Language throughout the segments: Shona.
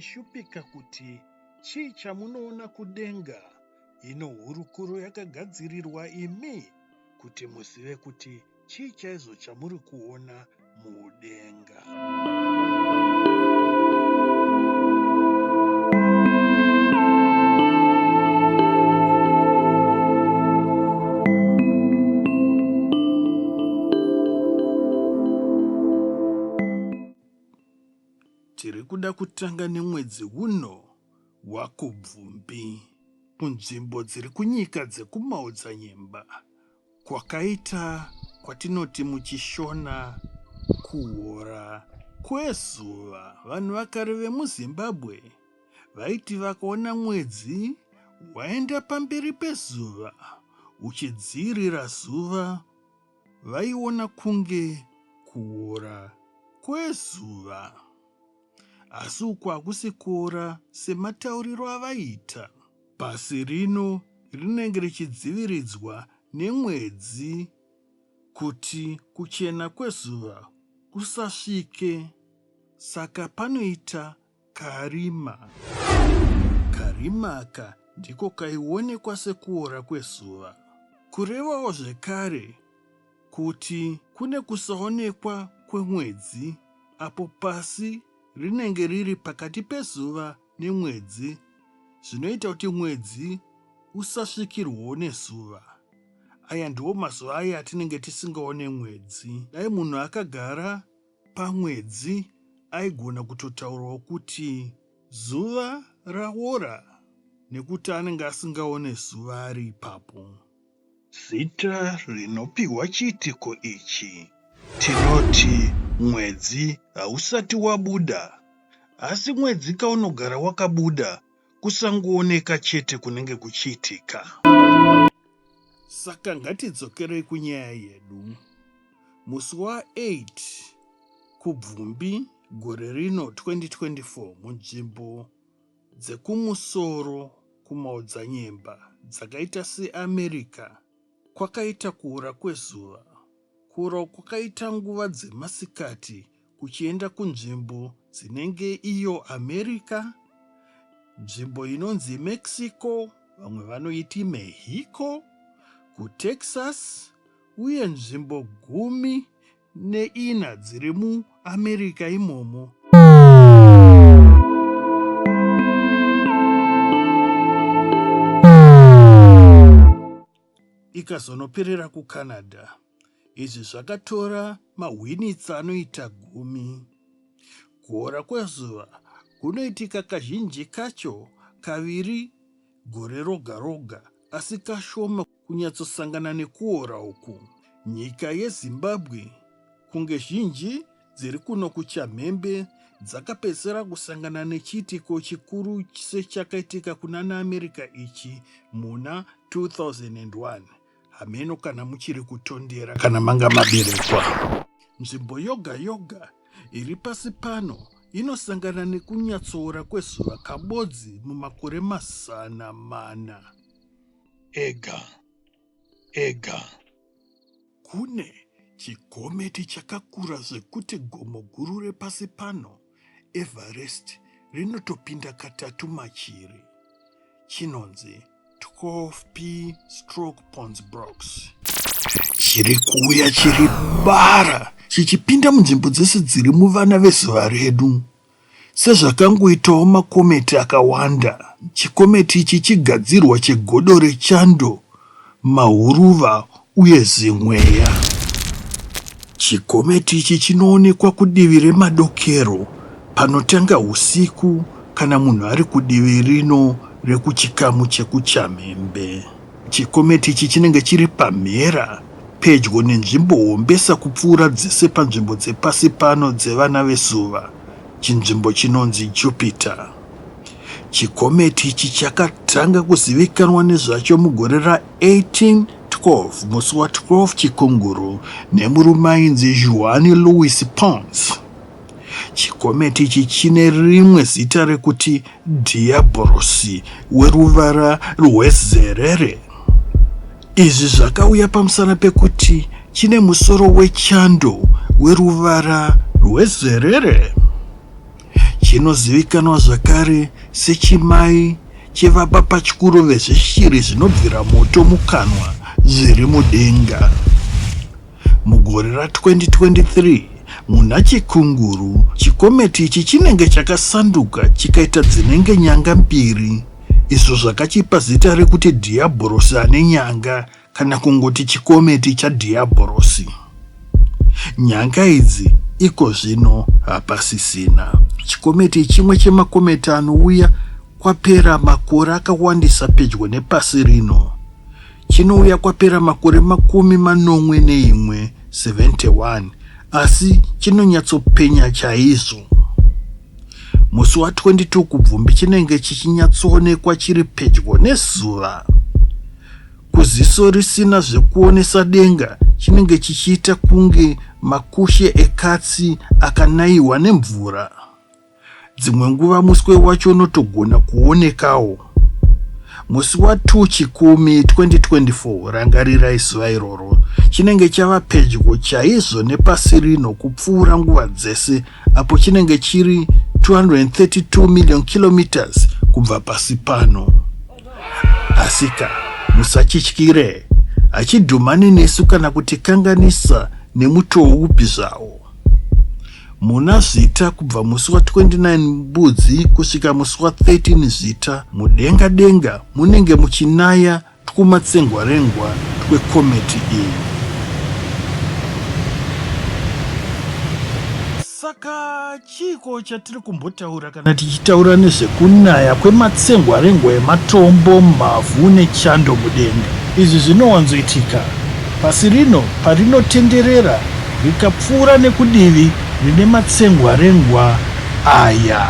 kushupika kuti chii chamunoona kudenga ino hurukuro yakagadzirirwa imi kuti muzive kuti chii chaizvo chamuri kuona mudenga tiri kuda kutanga nemwedzi uno wakubvumbi munzvimbo dziri kunyika dzekumaodzanyemba Kwakaita kwatinoti muChishona kuhora kwezuva. Vanhu vakare vemuZimbabwe vaiti vakaona mwedzi waenda pamberi pezuva uchidziirira zuva vaiona kunge kuora kwezuva. Asi uku hakusi kuora sematauriro avaiita. Pasi rino rinenge richidziviridzwa nemwedzi kuti kuchena kwezuva kusasvike saka panoita karima. Karima aka ndiko kaionekwa sekuora kwezuva kurevawo zvekare kuti kune kusaonekwa kwemwedzi apo pasi rinenge riri pakati pezuva nemwedzi zvinoita kuti mwedzi usasvikirwawo nezuva. Aya ndiwo mazuva aya atinenge tisingaone mwedzi. Dai munhu akagara pamwedzi aigona kutotaurawo kuti zuva raora nekuti anenge asingaone zuva ari ipapo. Zita rinopihwa chiitiko ichi tinoti mwedzi hausati wabuda asi mwedzi kaunogara wakabuda kusangooneka chete kunenge kuchiitika. Saka ngatidzokerei kunyaya yedu. Musi wa 8 Kubvumbi gore rino 2024 munzvimbo dzekumusoro kumaodzanyemba dzakaita seAmerica kwakaita kuora kwezuva. Kuora uku kwakaita nguva dzemasikati kuchienda kunzvimbo dzinenge iyo America, nzvimbo inonzi Mexico, vamwe vanoiti Mexico, kuTexas uye nzvimbo gumi neina dziri muAmerica imomo. Ikazonoperera kuCanada. Izvi zvakatora mahwinitsa anoita gumi. Kuora kwezuva kunoitika kazhinji kacho kaviri gore roga roga asi kashoma kunyatsosangana nekuora uku. Nyika yeZimbabwe kunge zhinji dziri kuno kuchamhembe dzakapedzisira kusangana nechiitiko chikuru sechakaitika kunana America ichi muna 2001. Hameno kana muchiri kutondera kana manga maberekwa. Nzvimbo yoga yoga iri pasi pano inosangana nekunyatsoora kwezuva kabodzi mumakore mazana mana. ega ega. Kune chigometi chakakura zvekuti gomo guru repasi pano, Everest, rinotopinda katatu machiri. Chinonzi 12P Stroke Ponds Brooks. Chiri kuuya chiri bara chichipinda munzvimbo dzese dziri muvana vezuva redu. Sezvakangoitawo makometi akawanda, chikometi ichi chigadzirwa chegodo rechando, mahuruva uye zimweya. Chikometi ichi chinoonekwa kudivi remadokero panotanga husiku kana munhu ari kudivi rino rekuchikamu chekuchamhembe. Chikometi ichi chinenge chiri pamhera pedyo nenzvimbo hombesa kupfuura dzese panzvimbo dzepasi pano dzevana vezuva, chinzvimbo chinonzi Jupiter. Chikometi ichi chakatanga kuzivikanwa nezvacho mugore ra 1812 musi wa 12 Chikunguru nemurume ainzi Juan Luis Pons. Chikometi ichi chine rimwe zita rekuti Dhiyabhorosi weruvara rwezerere. Izvi zvakauya pamusana pekuti chine musoro wechando weruvara rwezerere. Chinozivikanwa zvakare sechimai chevabapachikuru vezveshiri zvinobvira moto mukanwa zviri mudenga. Mugore ra 2023 muna Chikunguru, chikometi ichi chinenge chakasanduka chikaita dzinenge nyanga mbiri izvo zvakachipa zita rekuti Dhiyabhorosi ane nyanga kana kungoti chikometi chaDhiyabhorosi. Nyanga idzi iko zvino hapasisina. Chikometi ichimwe chemakometi anouya kwapera makore akawandisa pedyo nepasi rino. Chinouya kwapera makore makumi manomwe neimwe, 71, asi chinonyatsopenya chaizvo. Musi wa 22 kubvumbi chinenge chichinyatsoonekwa chiri pedyo nezuva. Kuziso risina zvekuonesa denga chinenge chichiita kunge makushe ekatsi akanaiwa nemvura. Dzimwe nguva muswe wacho unotogona kuonekawo. Musi wa 2 Chikumi 2024, rangarirai zuva iroro, chinenge chava pedyo chaizvo nepasi rino kupfuura nguva dzese apo chinenge chiri 232 million kilometers kubva pasi pano. Asika, musachityire, hachidhumani nesu kana kutikanganisa nemutoo upi zvawo. muna Zvita kubva musi wa 29 Mbudzi kusvika musi wa 13 Zvita, mudenga denga munenge muchinaya twumatsengwarengwa twekometi iyi. Saka chiiko chatiri kumbotaura? Kana tichitaura nezvekunaya kwematsengwarengwa ematombo mumavhu nechando mudenga, izvi zvinowanzoitika pasi rino parinotenderera rikapfuura nekudivi rine matsengwarengwa aya.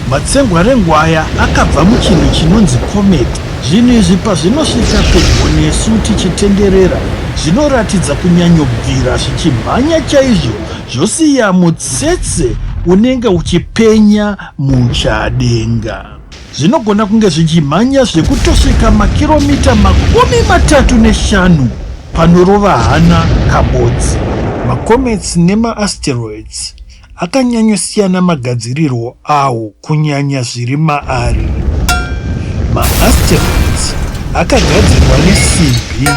Matsengwarengo aya akabva muchinhu chinonzi comet. Zvinhu izvi pazvinosvika pedyo nesu tichitenderera, zvinoratidza kunyanyobvira zvichimhanya chaizvo zvosiya mutsetse unenge uchipenya muchadenga. Zvinogona kunge zvichimhanya zvekutosvika makiromita makumi matatu neshanu panorova hana kabodzi. Macomets nemaasteroids akanyanyosiyana magadzirirwo awo kunyanya zviri maari. Maasteroids akagadzirwa nesimbi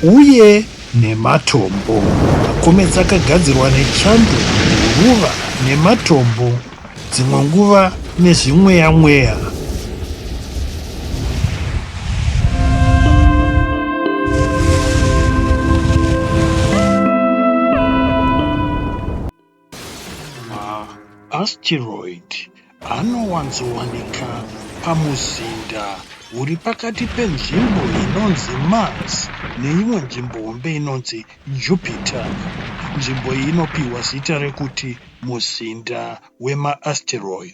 uye nematombo. Makomets akagadzirwa nechando, guruva nematombo, dzimwe nguva nezvimweya mweya. Maasteroid anowanzowanika pamuzinda uri pakati penzvimbo inonzi Mars neimwe nzvimbo hombe inonzi Jupiter. Nzvimbo iyi inopiwa zita rekuti muzinda wemaasteroid.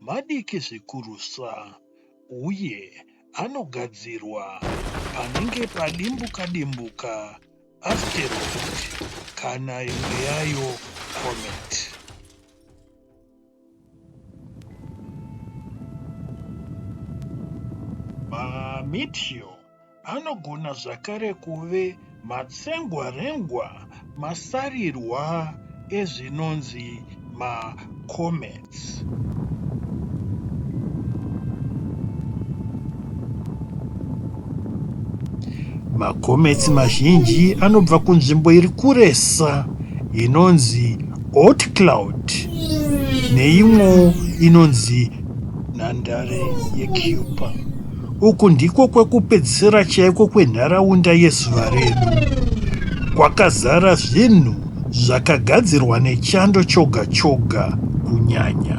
madiki zvikurusa uye anogadzirwa panenge padimbuka-dimbuka, asteroid, kana imwe yayo comet. Mameteor anogona zvakare kuve matsengwarengwa, masarirwa ezvinonzi macomets. Macomets mazhinji anobva kunzvimbo iri kuresa inonzi hot cloud neimwewo inonzi nhandare yecupa Uku ndiko kwekupedzisira chaiko kwenharaunda yezuva redu. Kwakazara zvinhu zvakagadzirwa nechando choga choga kunyanya.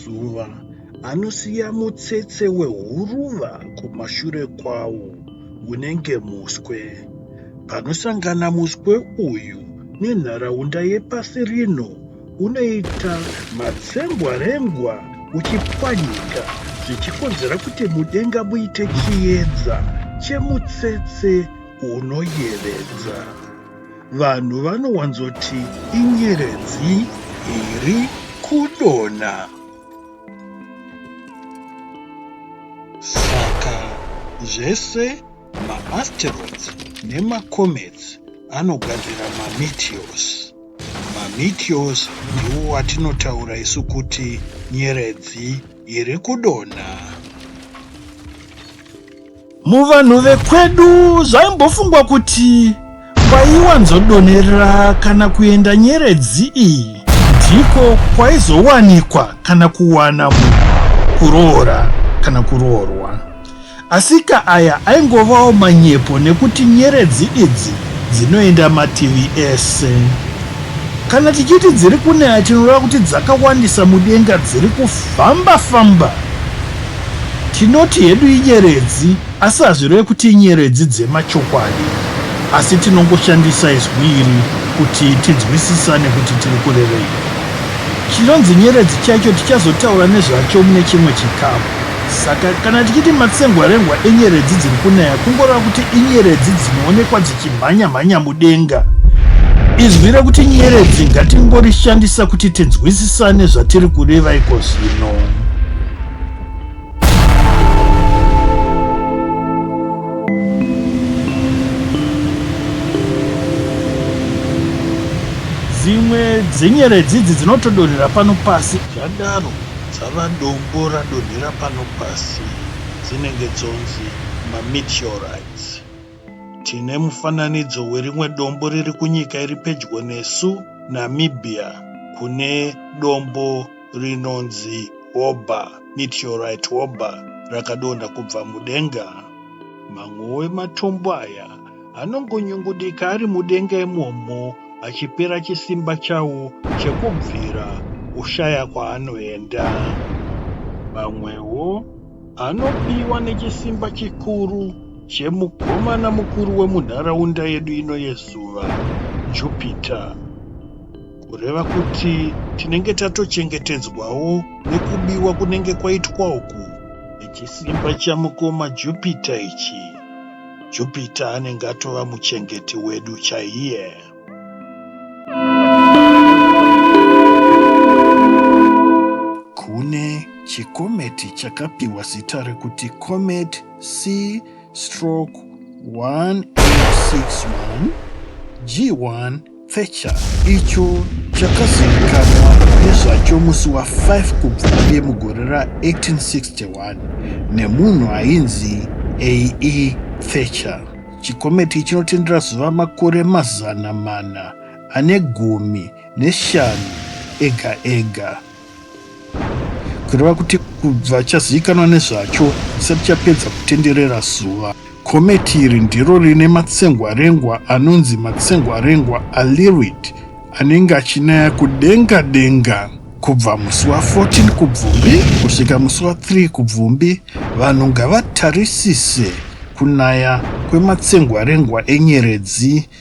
zuva anosiya mutsetse wehuruva kumashure kwawo unenge muswe. Panosangana muswe uyu nenharaunda yepasi rino unoita matsengwarengwa uchipwanyika zvichikonzera kuti mudenga muite chiedza chemutsetse unoyevedza. vanhu vanowanzoti inyeredzi iri kudonha. Saka zvese maasteroids nemacomets anogadzira mameteors. Mameteors ndiwo watinotaura isu kuti nyeredzi iri kudonha. Muvanhu vekwedu zvaimbofungwa kuti kwaiwanzodonhera kana kuenda nyeredzi iyi ndiko kwaizowanikwa kana kuwana munhu kuroora kana kuroorwa. Asika aya aingovawo manyepo nekuti nyeredzi idzi dzinoenda mativi ese. Kana tichiti dziri kunaya tinoreva kuti dzakawandisa mudenga dziri kufamba-famba. Tinoti hedu inyeredzi asi hazvireve kuti inyeredzi dzemachokwadi asi tinongoshandisa izwi iri kuti tinzwisisane kuti tiri kurevei. Chinonzi nyeredzi chaicho tichazotaura nezvacho mune chimwe chikamu. Saka kana tichiti matsengwarengwa enyeredzi dziri kunaya kungoreva kuti inyeredzi dzinoonekwa dzichimhanya-mhanya mudenga. Izwi rekuti nyeredzi ngatingorishandisa kuti tinzwisisane zvatiri kureva iko zvino. dzimwe dzenyeredzi idzi dzinotodonhera pano pasi zvadaro dzava dombo radonhera pano pasi dzinenge dzonzi mameteorites tine mufananidzo werimwe dombo riri kunyika iri pedyo nesu namibia kune dombo rinonzi Oba, meteorite Oba, rakadonha kubva mudenga. Mamwewo ematombo aya anongonyungudika ari mudenga imomo achipera chisimba chawo chekubvira oshaya kwaanoenda. Mamwewo anobiwa nechisimba chikuru chemukomana mukuru wemunharaunda yedu ino yezuva, Jupiter. Kureva kuti tinenge tatochengetedzwawo nekubiwa kunenge kwaitwa uku. Nechisimba chamukoma Jupiter ichi. Jupiter anenge atova muchengeti wedu chaiye. Kune chikometi chakapiwa zita rekuti Comet C stroke 1861 G1 Thatcher icho chakazivikanwa nezvacho musi wa 5 Kubvumbi mugore ra 1861 nemunhu ainzi A.E. Thatcher. Chikometi chinotendera zuva makore mazana mana ane gumi neshanu ega ega. kureva kuti kubva chazivikanwa nezvacho chisati chapedza kutenderera zuva kometi iri ndiro rine matsengwarengwa anonzi matsengwarengwa alirid anenge achinaya kudenga denga kubva musi wa 14 kubvumbi kusvika musi wa 3 kubvumbi vanhu ngavatarisise kunaya kwematsengwarengwa enyeredzi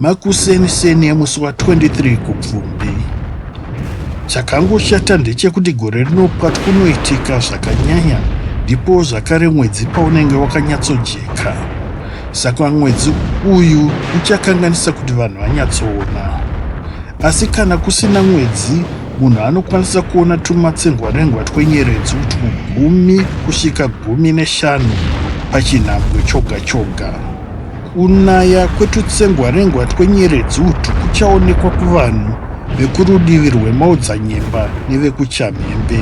Makuseni-seni emusi wa 23 Kubvumbi, chakangoshata ndechekuti gore rino pwati kunoitika zvakanyanya ndipo zvakare mwedzi paunenge wakanyatsojeka. Saka mwedzi uyu uchakanganisa kuti vanhu vanyatsoona. Asi kana kusina mwedzi, munhu anokwanisa kuona tumatsengwarengwa twenyeredzi utwu gumi kusvika gumi neshanu pachinhambwe choga choga. Kunaya kwetutsengwarengwa twenyeredzi utu kuchaonekwa kuvanhu vekurudivi rwemaodzanyemba nevekuchamhembe,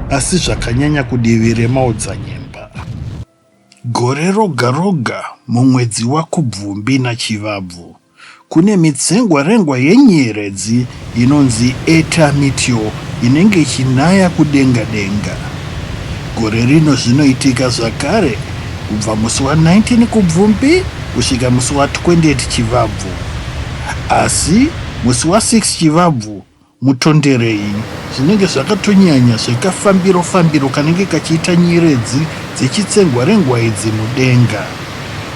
asi zvakanyanya kudivi remaodzanyemba. Gore roga roga mumwedzi waKubvumbi naChivabvu, Kune mitsengwarengwa yenyeredzi inonzi Eta Meteor inenge ichinaya kudenga denga. Gore rino zvinoitika zvakare kubva musi wa 19 Kubvumbi kusvika musi wa 28 Chivabvu. Asi musi wa 6 Chivabvu Mutonderei, zvinenge zvakatonyanya zvekafambiro fambiro kanenge kachiita nyeredzi dzechitsengwa rengwaidzi mudenga,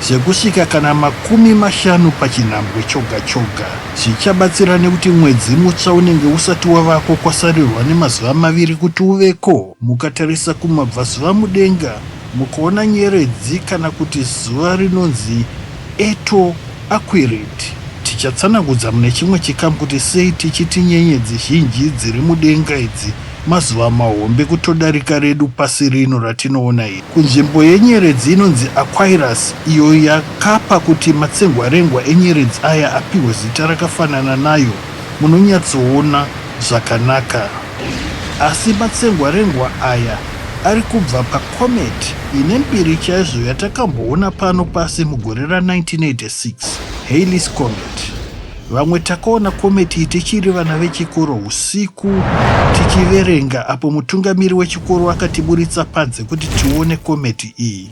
zvekusvika kana makumi mashanu pachinhambwe choga choga. Zvichabatsira nekuti mwedzi mutsva unenge usati wavako kwasarirwa nemazuva maviri kuti uveko. Mukatarisa kumabvazuva mudenga mukaona nyeredzi kana kuti zuva rinonzi. Eto aquirent tichatsanangudza mune chimwe chikamu kuti sei tichiti nyenyedzi zhinji dziri mudenga idzi mazuva mahombe kutodarika redu pasi rino ratinoona iri. Kunzvimbo yenyeredzi inonzi Aquirus iyo yakapa kuti matsengwarengwa enyeredzi aya apihwe zita rakafanana nayo munonyatsoona zvakanaka. Asi matsengwarengwa aya ari kubva pacomet ine mbiri chaizvo yatakamboona pano pasi mugore ra 1986, Halley's Comet. Vamwe takaona comet iyi tichiri vana vechikoro usiku tichiverenga apo mutungamiri wechikoro akatiburitsa panze kuti tione comet iyi.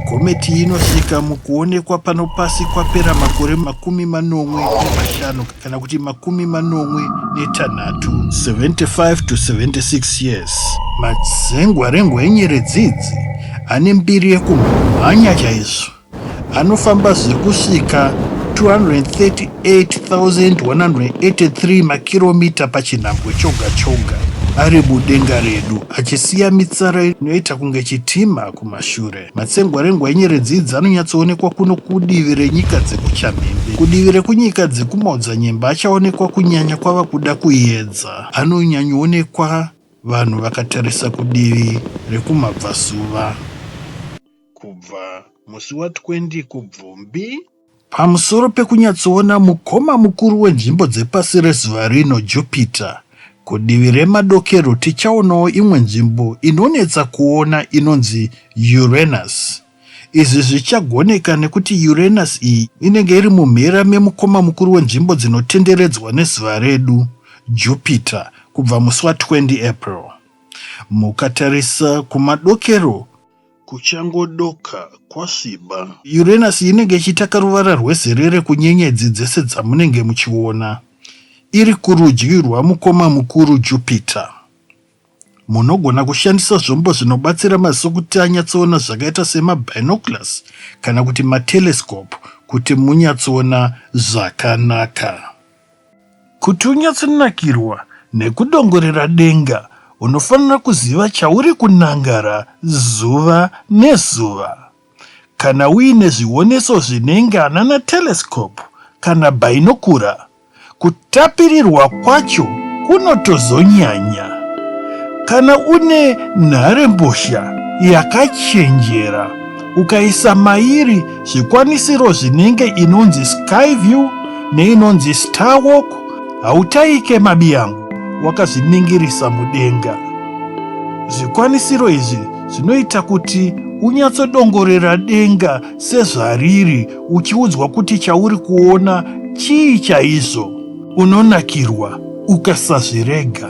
Comet iyi inosvika mukuonekwa pano pasi kwapera makore makumi manomwe nemashanu. kana kuti makumi manomwe netanhatu 75 to 76 years madzengwarengwa enyeredzi idzi ane mbiri yekumhanya chaizvo anofamba zviri kusvika 238183 makiromita pachinhambwe choga choga ari mudenga redu achisiya mitsara inoita kunge chitima kumashure Matsengwarengwa enyeredzi idzi anonyatsoonekwa kuno kudivi renyika dzekuchamhembe. Kudivi rekunyika dzekumaodzanyemba achaonekwa kunyanya kwava kuda kuyedza. Anonyanyoonekwa vanhu vakatarisa kudivi rekumabvazuva. Kubva musi wa 20 Kubvumbi. Pamusoro pekunyatsoona mukoma mukuru wenzvimbo dzepasi rezuva rino, Jupiter, kudivi remadokero tichaonawo imwe nzvimbo inonetsa kuona inonzi Uranus. Izvi zvichagoneka nekuti Uranus iyi inenge iri mumhera memukoma mukuru wenzvimbo dzinotenderedzwa nezuva redu, Jupiter, kubva musi wa 20 April. Mukatarisa kumadokero, kuchangodoka kwasviba. Uranus inenge ichitaka ruvara rwezerere kunyenyedzi dzese dzamunenge muchiona. Iri kurudyi rwamukoma mukuru Jupiter. Munogona kushandisa zvombo zvinobatsira maziso kuti anyatsoona zvakaita semabinoculars kana kuti matelescope kuti munyatsoona zvakanaka. Kuti unyatsinakirwa nekudongorera denga, unofanira kuziva chauri kunangara zuva nezuva. Kana uine zvioneso zvenenga nana telescope kana bhainokura, kutapirirwa kwacho kunotozonyanya. Kana une nharembozha yakachenjera, Ukaisa mairi zvikwanisiro zvinenge inonzi sky view neinonzi star walk hautaike mabiyangu wakazviningirisa mudenga. Zvikwanisiro izvi zvinoita kuti unyatsodongorera denga sezvariri uchiudzwa kuti chauri kuona chii chaizvo. Unonakirwa ukasazvirega.